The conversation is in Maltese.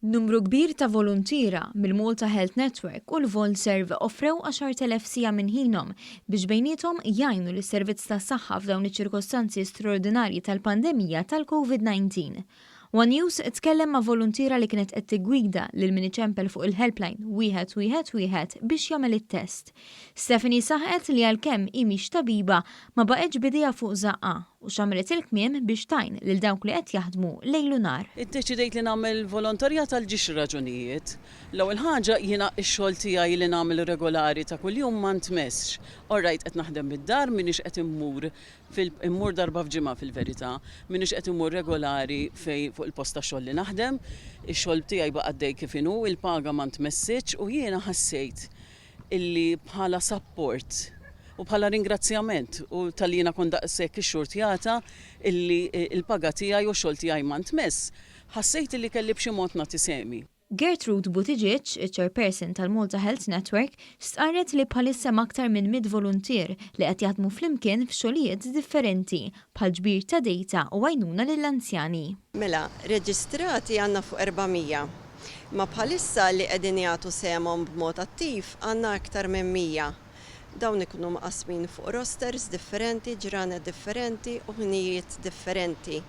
Numru kbir ta' voluntiera mill-Malta Health Network u l-Volserve offrew 10,000 siegħa minn ħinhom biex bejniethom jgħinu lis-servizz tas-saħħa f'dawn iċ-ċirkostanzi straordinarji tal-pandemija tal-COVID-19. One News tkellem ma' voluntiera li kienet qed tiggwida lil min iċempel fuq il-helpline 111 biex jagħmel it-test. Stephanie saħqet li għalkemm hi mhix tabiba, ma baqgħetx b'idejha fuq żaqqha u xammret il-kmiem biex tgħin lil dawk li qed jaħdmu lejl u nhar. Iddeċidejt li nagħmel volontarjat għal ġiex raġunijiet. L-ewwel ħaġa, jiena x-xogħol tiegħi li nagħmel regolari ta' kuljum ma ntmessx. Orajt qed naħdem mid-dar, m'iniex qed immur Fil-, immur darba f'ġimgħa fil-verità. M'iniex qed immur regolari fejn fuq il-post tax-xogħol li naħdem. Ix-xogħol tiegħi baqa' għaddej kif inhu, il-paga ma ntmessitx u jiena ħassejt illi bħala sapport u bħala ringrazzjament u talli jiena kont daqshekk ixxurtjata illi l-paga tiegħi u x-xogħol tiegħi ma ntmess, ħassejt illi kelli b'xi mod nagħti sehmi. Gertrude Buttigieg, iċ-Chairperson tal-Malta Health Network, stqarret li bħalissa hemm aktar minn mitt voluntier li qed jaħdmu flimkien f'xogħlijiet differenti, bħal ġbir ta' dejta u għajnuna lill-anzjani. Mela, reġistrati għandna fuq 400, imma bħalissa li qegħdin jagħtu sehemhom b'mod attiv għandna aktar minn 100. Dawn ikunu mqassmin fuq rosters differenti, ġranet differenti u ħinijiet differenti.